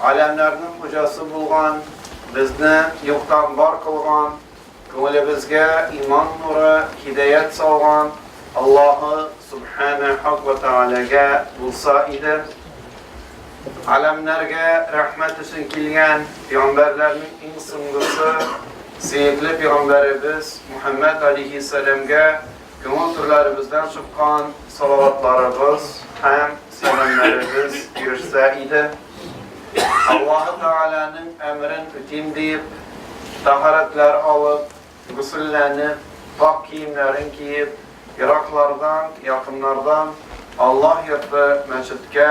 Галәмнәрнең хуҗасы булган, безне юктан бар кылган, күңелебезгә иман нуры, һидәят салган Аллаһы Сүбхәнәһү вә Тәгаләгә булса иде. Галәмнәргә рәхмәт өчен килгән пигамбәрләрнең иң соңгысы, сөекле пигамбәребез Мухаммәд алейхиссәламгә Туган җирләребездән чыккан салаватларыбыз һәм сәламнәребез ирешсә иде. Аллаһы Тәгаләнең әмерен үтим диеп, тәһарәтләр алып, гусылләнеп, пакь киемнәрен киеп, ераклардан, якыннардан Аллаһ йорты, мәчеткә,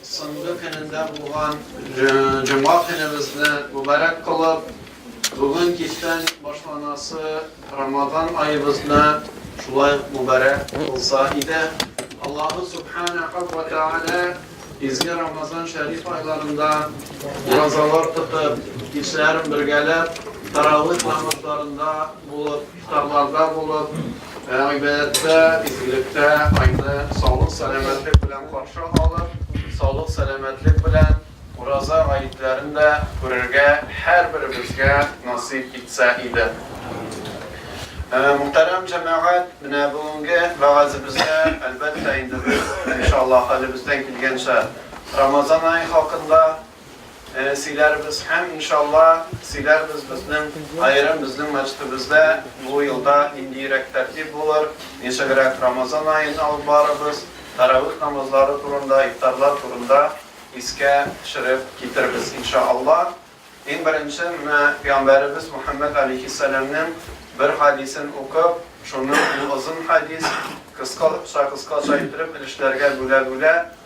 Соңгы көнендә булган җомга көнебезне мөбарәк кылып, бүген кичтән башланасы Рамазан аебызны шулай ук мөбарәк кылса иде. Аллаһу Сүбхәнәһү вә Тәгалә изге Рамазан шәриф айларында уразалар тотып, кичләрен бергәләп, Тарәвих намазларында булып, Карларда булып, гыйбадәттә, изгелектә Айны саулык-сәламәтлек белән каршы алып, саулык-сәламәтлек белән Ураза гаетләрен дә күрергә һәрберебезгә насыйп итсә иде. Мөхтәрәм җәмәгать, менә бүгенге вәгазебездә, әлбәттә, инде без, иншаллаһ, хәлебездән килгәнчә, Рамазан ае хакында, Сөйләрбез һәм, иншалла, сөйләрбез безнең аерым безнең мәчетебездә бу елда ниндиерәк тәртип булыр, ничегрәк Рамазан аен алып барырбыз, тәравих намазлары турында, ифтарлар турында искә төшереп китербез, иншалла. Иң беренче, менә пәйгамбәребез Мөхәммәд алейһиссәламнең бер хәдисен укып, шуны ул озын хәдис, кыскача-кыскача иттереп өлешләргә бүлә-бүлә,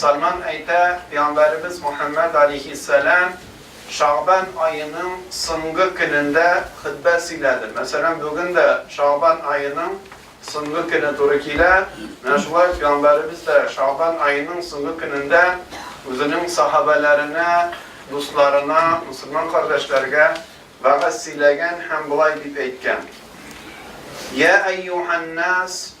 Сальман әйтә, Пәйгамбәребез Мөхәммәд алейһиссәлам Шәгъбан аеның соңгы көнендә хөтбә сөйләде. Мәсәлән, бүген дә Шәгъбан аеның соңгы көне туры килә. Менә шулай ук Пәйгамбәребез дә Шәгъбан аеның соңгы көнендә үзенең сахабәләренә, дусларына, мөселман кардәшләргә вәгазь сөйләгән һәм болай дип әйткән, Йә әйюһән-нас!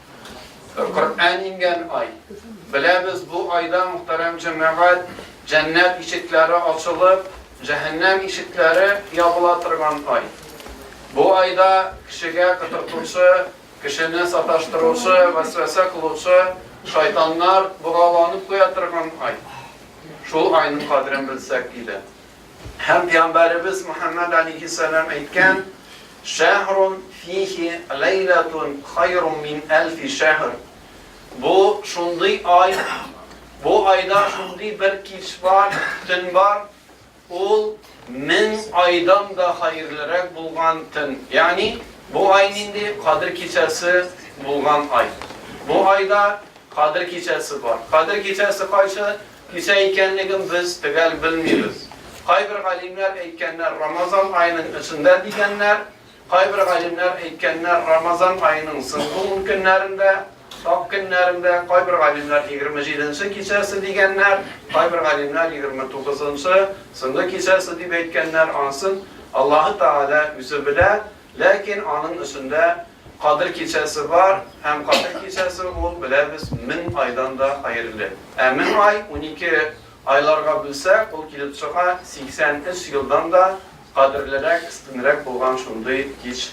Коръән иңгән ай. Беләбез, бу айда, мөхтәрәм җәмәгать, җәннәт ишекләре ачылып, җәһәннәм ишекләре ябыла торган ай. Бу айда кешегә котыртучы, кешене саташтыручы, вәсвәсә кылучы шайтаннар богауланып куя торган ай. Шул айның кадерен белсәк иде. Һәм пиамбәребез Мөхәммәд алейһиссәлам әйткән, Шәһрун фиһи ләйләтун хайрун мин әлфи шәһр, Бу, шундый ай, бу айда шундый бер кич бар, төн бар, ул мең айдан да хәерлерәк булган төн. Ягъни, бу ай нинди? Кадер кичәсе булган ай. Бу айда Кадер кичәсе бар. Кадер кичәсе кайсы? Кисә икәнлеген без төгәл белмибез. Кайбер галимнәр әйткәннәр Рамазан аеның эчендә дигәннәр, кайбер галимнәр әйткәннәр Рамазан аеның соңгы ун көннәрендә, сак көннәрендә, кайбер галимнәр егерме җиденче кичәсе дигәннәр, кайбер галимнәр егерме тугызынчы, соңгы кичәсе дип әйткәннәр, анысын Аллаһы Тәгалә үзе белә, Ләкин аның өсендә Кадер кичәсе бар, һәм Кадер кичәсе ул, беләбез, мең айдан да хәерле. Ә мең ай унике айларга бүлсәк, ул килеп чыга, 83 елдан да кадерлерәк, өстенрәк булган шундый кич.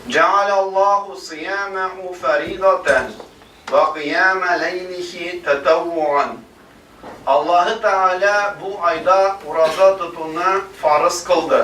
Җәгалә Аллаһу сыйәмәһу фәридатән вә кыйәмә ләйлихи тәтәүвугән. Аллаһы Тәгалә бу айда ураза тотуны фарыз кылды.